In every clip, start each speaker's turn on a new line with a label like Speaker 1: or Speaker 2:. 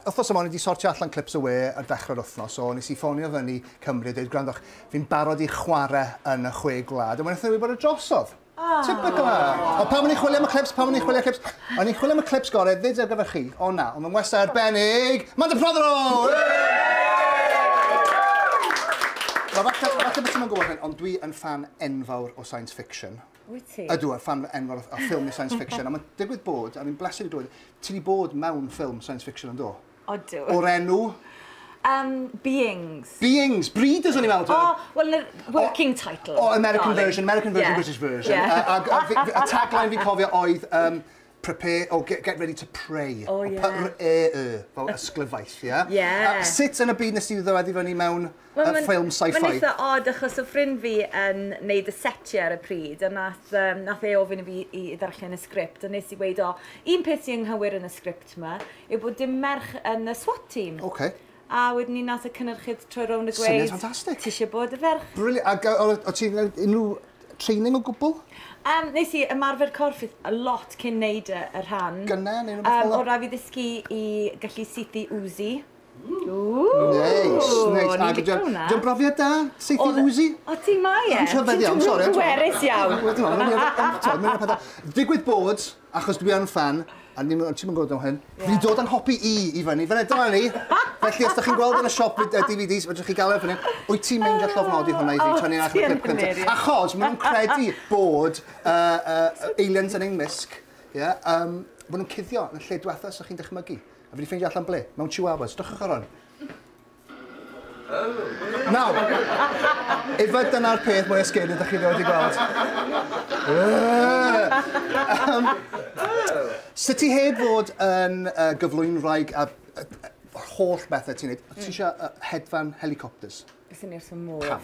Speaker 1: Wythnos yma o'n i 'di sortio allan clips y we ar ddechrau'r wythnos, so nes i ffonio fyny Cymru a deud, gwrandwch, fi'n barod i chware yn y chwe gwlad, a wnaethon nhw wybod y drosodd. Typical! Ond pam o'n i'n chwilio am y clips, pam o'n i'n chwilio am y clips? O'n i'n chwilio am y clips gorau fyd ar gyfer chi, ond na, ond fy ngwestai arbennig, Manda Prothero! Nawr falle, falle bo ti'm yn gwybod hyn, ond dwi yn ffan enfawr o science fiction. Wyt ti? Ydw, a fan enfawr o ffilm science fiction. a mae'n digwydd bod, a fi'n bleser i glywed, ti wedi bod mewn ffilm science fiction yn do? Odw. O'r enw? Um, beings. Beings, breeders o'n i'n meddwl. Oh, well, the working oh, title. Oh, American darling. version, American version, yeah. British version. Yeah. A, a, a, a, a tagline fi'n cofio oedd, um, Prepare, oh, get, get ready to pray. O, ie. P-r-e-y, fel ysglyfaeth, ie? Ie. A sut yn y byd nes ti ddod i fyny mewn Wel, uh, ffilm sci-fi? Mae'n eitha odd, achos o ffrind fi yn neud y setiau ar y pryd, a nath, um, nath e ofyn i fi i ddarllen y sgript, a nes i weid, o, un peth sy'n nghywir yn y sgript yma, yw bod dim merch yn y SWAT team. Okay. A wedyn ni nath y cynnyrchydd troi rownd y gweud... Syniad ffantastig. Ti eisiau bod y ferch? Briliant. Ac o, o ti'n unrhyw training o gwbl? Yym, nes i ymarfer corff fi lot cyn neud y y rhan. Gynne neu rwbeth fel 'a? Yym o' rai' fi ddysgu i gallu suthu Woozi. Ww! Neis, neis. O'n i'n lico wnna. 'Di o'n brofiad da, saethu Woozi? O ti, mae e. Ti'n rhyfedd iawn, sori. Ti'n twtio pwerus iawn. Digwydd bod, achos dwi yn fan, a ddim yn gwybod am hyn, yeah. fi dod yn hopi i i fyny, fan edrych ni. Felly, os da chi'n gweld yn y siop y DVDs, fydrych chi gael erbyn hyn, wyt ti'n mynd gallu ofnodi hwnna i fi, tynnu allan y clip cyntaf. Achos, maen nhw'n credu bod uh, uh, aliens yn ein misg, yeah, um, maen nhw'n cuddio yn y lle diwetha, so chi'n dychmygu. A fi wedi ffeindio allan ble, mewn chihuahuas, drychwch ar hwn. Nawr, efe dyna'r peth mwyaf sgeri ydych chi rioed wedi gweld. Sut ti heb fod yn uh, gyflwynwraig a yr holl bethau ti'n neud, ti eisiau uh, hedfan helicopters? Beth yn i'r modd? Pam?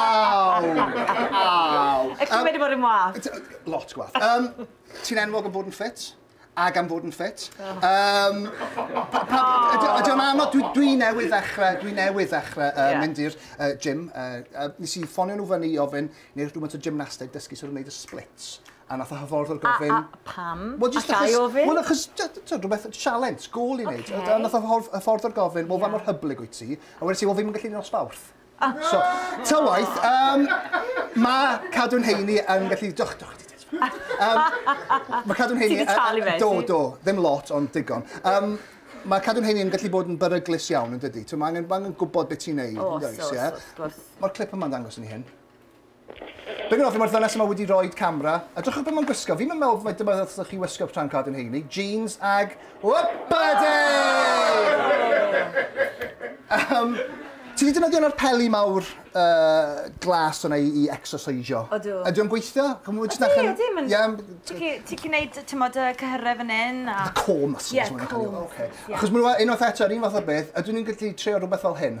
Speaker 1: Aw! Aw! Ych chi'n wedi bod yn wath? Lot gwath. Um, ti'n enwog am fod yn ffit? ac am fod yn ffit. Um, Ydy o'n anodd, dwi, dwi newydd ddechrau, dwi newydd ddechrau uh, yeah. mynd i'r uh, gym. Uh, uh, nes i ffonio nhw fyny i ofyn, neu'r rhywbeth o gymnasteg dysgu sort of wneud y splits. A nath y hyfforddwr gofyn... A, a, pam? Wel, jyst achos... A ga i ofyn? Wel, achos, ti'n rhywbeth, sialens, gol i wneud. Okay. A nath y hyfforddwr gofyn, wel, yeah. fa mor hyblyg wyt ti? A wedi ti, wel, fi ddim yn gallu nosbarth. Ah. So, ta waith, um, mae cadw'n heini yn gallu... Doch, doch, ti um, mae cadw'n heini... Ti wedi talu fe? Do, do, ddim lot, ond digon. Um, mae cadw'n heini yn gallu bod yn beryglus iawn yn dydy. Mae angen, angen gwybod beth ti'n neud. O, so, so, wrth gwrs. Mae'r clip yma'n dangos yn hyn. Be gwnaethoch chi mae'r ddynes yma wedi rhoid camera? Edrychwch be mae'n gwisgo. Fi'n meddwl mai dyma ddylsech chi wisgo pan cadw'n heini. Jeans ag... Wpadi! um, ti wedi defnyddio yna'r peli mawr uh, glas yna i, i exercisio? Odw. Ydy o'n gweithio? Ydy, ydy. Mae'n... Yeah. Ti chi'n neud, ti'n modd, y cyhyrau fan hyn? A... The core muscles. Yeah, core. Okay. Yeah. Achos mae'n unwaith eto, yr un fath o beth, ydw i'n gallu treo rhywbeth fel hyn?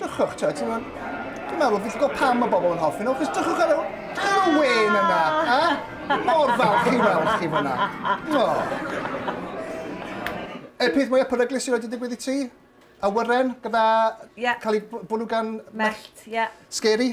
Speaker 1: Dychwch, ti'n meddwl, dwi'n meddwl, fi'n gwybod pam mae bobl yn hoffi nhw, chos dychwch ar y, dychwch ar y wen yna, ha? Mor falch i weld chi fyna. Y e, peth mwyaf peryglus sydd wedi digwydd i ti? Awyren, gyda yeah. cael ei bwlw gan... Mellt, ie. Yeah. Scary?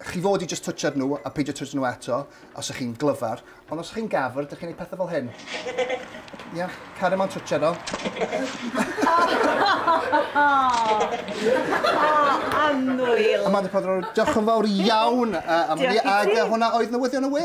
Speaker 1: Chi fod i jyst twtsh ar nhw a peidio twtsh nhw eto os ych chi'n glyfar, ond os ych chi'n gafr, dych chi'n ei pethau fel hyn. Ia, cario ma'n twtsh arno. Anwyl! Amanda Prodro, diolch yn fawr iawn am hynny, ac hwnna oedd newyddion y we.